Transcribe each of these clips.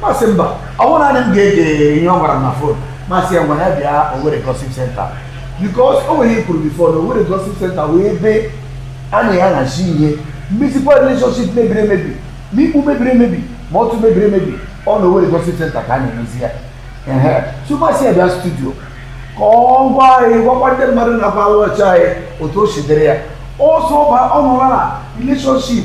m asị mba ọ bụghị naanị m ga-ege ihe ọ gwara m na phone m asị ya ngwa ya bịa Owerri Gossip Center because o nwere ihe m kwuru before na Owerri Gossip Center wụ ebe a na-ahazi ihe mmezikwa relationship mebiri emebi ma ikpu mebiri emebi ma ọtụ mebiri emebi ọ na Owerri Gossip Center ka a na-emezi ya so m asị ya bịa studio ka ọ gwa anyị gwakwa ndị mmadụ na-awatch anyị otu o si dịrị ya ọsọ ọba ọ nọrọ na relationship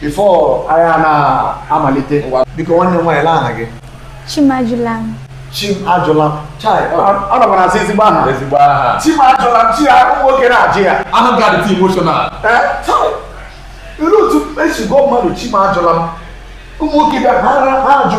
before anyị a na-amalite biko nwanne m nwaanyị olee aha gị Chimajụlam Chimajụlam chai ọ nọkwa na-asị ezigbo aha ezigbo aha Chimajụlam chai ụmụ nwoke na-ajụ ya anụ gadị ti emotional ị lee otu e si gụọ mmadụ Chimajụlam ụmụ nwoke bịa ha ajụ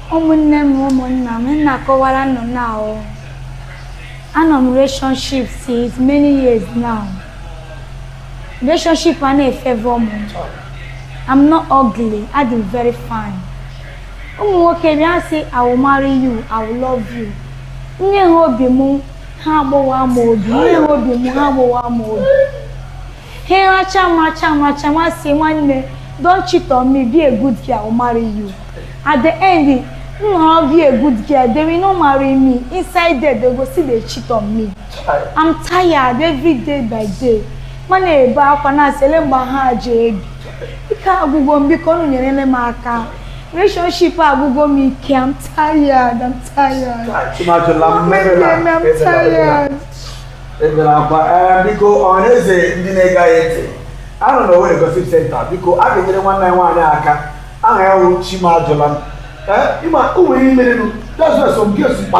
ụmụnne m ụmụnna m m na-akọwara unu now anọ m relationship since many years now relationship anaghị efavour m I'm not ugly adị m very fine ụmụ nwoke bịa sị I will marry you I will love you nye ha obi m ha agbawa m obi nye ha obi m ha agbawa m obi Hey, Acha, Macha, Macha, Masi, Nwanne, don't cheat on me. Be a good girl, I'll marry you. At the end, no, be a good girl. They will not marry me. Inside there, they go still dey cheat on me. I'm tired every day by day. M ana-ebe akwa na-asị olee mgbe ha ji ebi. Ike agwụgo m biko unu nyere m aka. Relationship agwụgo m ike. I'm tired. I'm tired. Chimajụlam, Mama, mmeri na- I'm tired. ebela akwa ee biko ọhaneze ndị na-ege anyị ntị a nọ na Owerri Gossip Center biko a ga-enyere nwanne anyị nwaanyị aka aha ya wụ Chimajụlam ee ị ma o nwere ihe merenụ that's why some girls kpa